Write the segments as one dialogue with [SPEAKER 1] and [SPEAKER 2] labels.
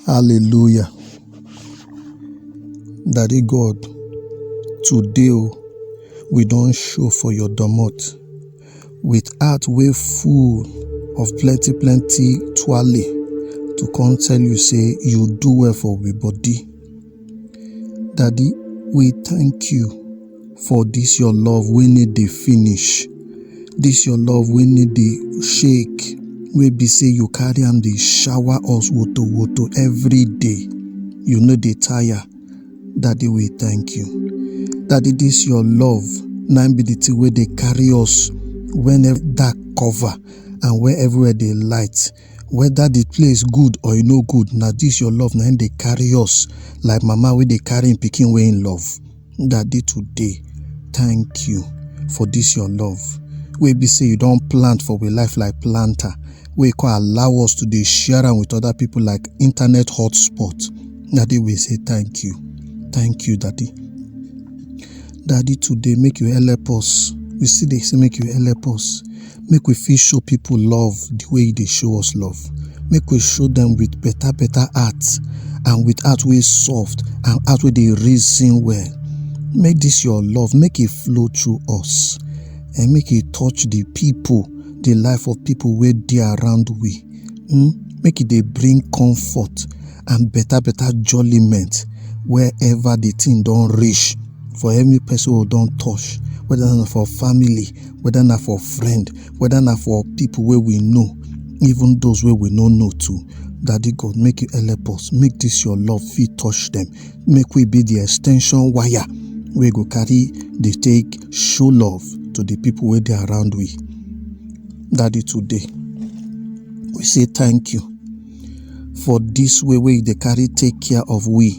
[SPEAKER 1] Hallelujah. Daddy God, today o, we don show for your domot with heart wey full of plenty plenty twale to come tell you say you do well for we body. Daddy, we thank you for this your love wey no dey finish, this your love wey no dey shake, wey be say you carry am dey shower us woto woto every day. You no dey tire. Daddy, we thank you. Daddy, this your love na im be the thing wey dey carry us when ev- dark cover and when everywhere dey light. Weda di place good or e no good, na dis your love na im dey carry us like mama wey dey carry im pikin wey im love. Daddy today, thank you for dis your love wey be say you don plant for we life like planter wey come allow us to dey share am with other people like internet hotspot. Daddy we say thank you, thank you daddy. Daddy today make you help us. We still dey say make you help us. Make we fit show people love the way you dey show us love. Make we show them with better better heart and with heart wey soft and heart wey dey reason well. Make this your love make e flow through us and make e touch the people, the life of people wey dey around we. um make e dey bring comfort and better better jolliment wherever the thing don reach for any person wey don touch whether na for family whether na for friend whether na for people wey we know even those wey we no know too daddy god make you help us make this your love fit touch them make we be the extension wire wey go carry dey take show love to the people wey dey around we Daddy, today we say thank you for this way where they carry take care of we.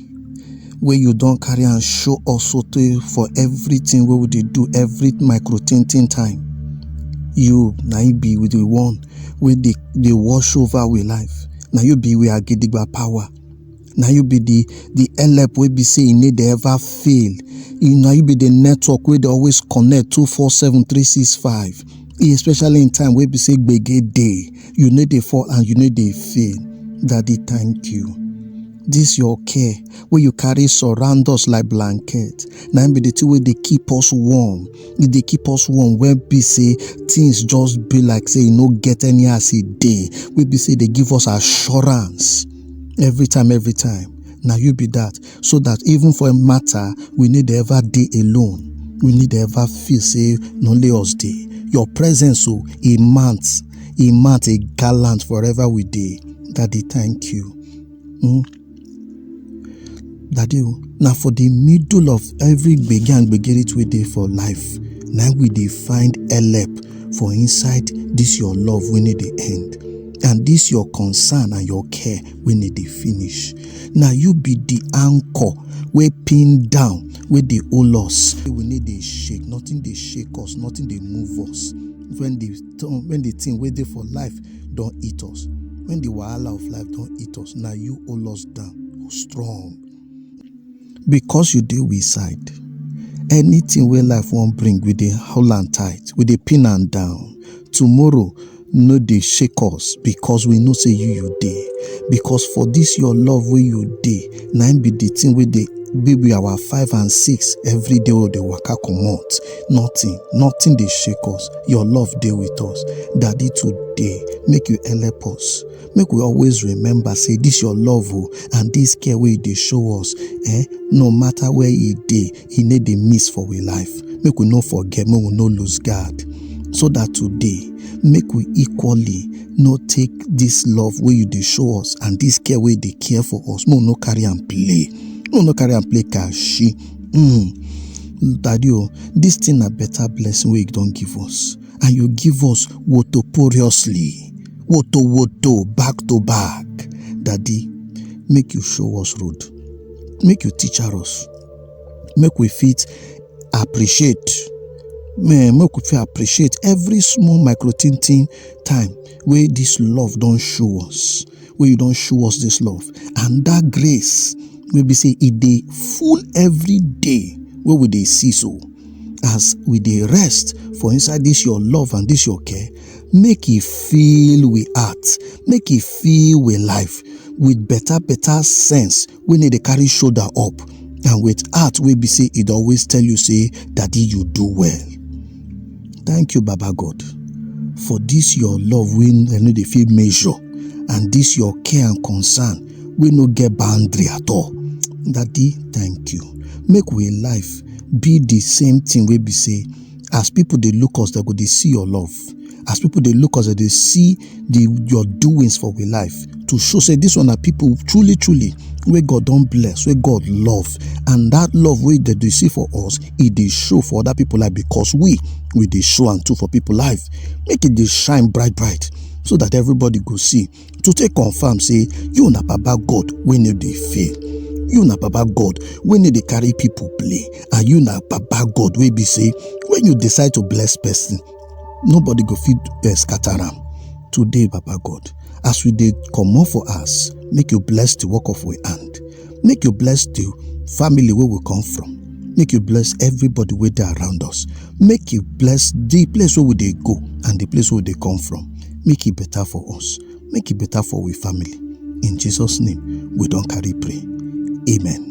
[SPEAKER 1] Where you don't carry and show us so tey for everything where we dey do every micro tin tin time. You na you be with the one wey dey dey wash over we life. Na you be we agidigba power. na you be the the help wey be say e no dey ever fail e na you be the network wey dey always connect two four seven three six five especially in time wey be say gbege dey you no dey fall and you no dey fail daddy thank you this your care wey you carry surround us like blanket na im be the thing wey dey keep us warm e dey keep us warm wey be say things just be like say e no get any as e dey wey be say e dey give us assurance every time every time na you be that so that even for a matter we need ever dey alone we need ever feel say na only us dey your presence o e mount e mount e gallant forever we dey daddy thank you mm. daddy o na for the middle of every gbege and gbegeret wey dey for life na we dey find help for inside this your love wey no dey end. and this your concern and your care wey no dey finish na you be the anchor wey pin down wey dey hold us we no dey shake nothing dey shake us nothing dey move us when the when the thing wey dey for life don hit us when the wahala of life don hit us na you hold us down strong because you dey we side anything wey life wan bring we dey hold am tight we dey pin am down tomorrow no dey shake us because we know say you you dey because for this your love wey you dey na im be the thing wey dey be be our five and six every day wey dey waka comot nothing nothing dey shake us your love dey with us daddy today make you help us make we always remember say this your love o and this care wey you dey show us eh no matter where e dey e no dey miss for we life make we no forget make we no lose guard so that today make we equally no take this love wey you dey show us and this care wey you dey care for us make we no carry am play make we no carry am play kashi mm. daddy o this thing na better blessing wey you don give us and you give us wotoporiously, woto woto back to back. Daddy, make you show us road, make you teach us, make we fit appreciate, make we fit appreciate every small micro tintin time wey this love don show us. wey you don show us this love and that grace wey be say e dey full every day wey we dey see so as we dey rest for inside this your love and this your care make e fill we heart make e fill we life with better better sense wey no dey carry shoulder up and with heart wey be say e dey always tell you say daddy you do well thank you baba god for this your love wey i no dey fit measure and this your care and concern wey no get boundary at all daddy thank you make we life be the same thing wey be say as people dey look us dem go dey see your love as people they look us they dey see the your doings for we life to show say this one are people truly truly where god don't bless where god love and that love wey that they see for us it they show for other people life because we we they show and too for people life make it they shine bright bright so that everybody go see to take confirm say you na baba god when you they fail you na baba god when you dey carry people play and you na baba god wey be say when you decide to bless person nobody go fit eh, scatter am today baba god as we dey comot for us, make you bless the work of we hand make you bless the family where we come from make you bless everybody where they around us make you bless the place where we they go and the place where they come from make it better for us make it better for we family in jesus name we don't carry pray amen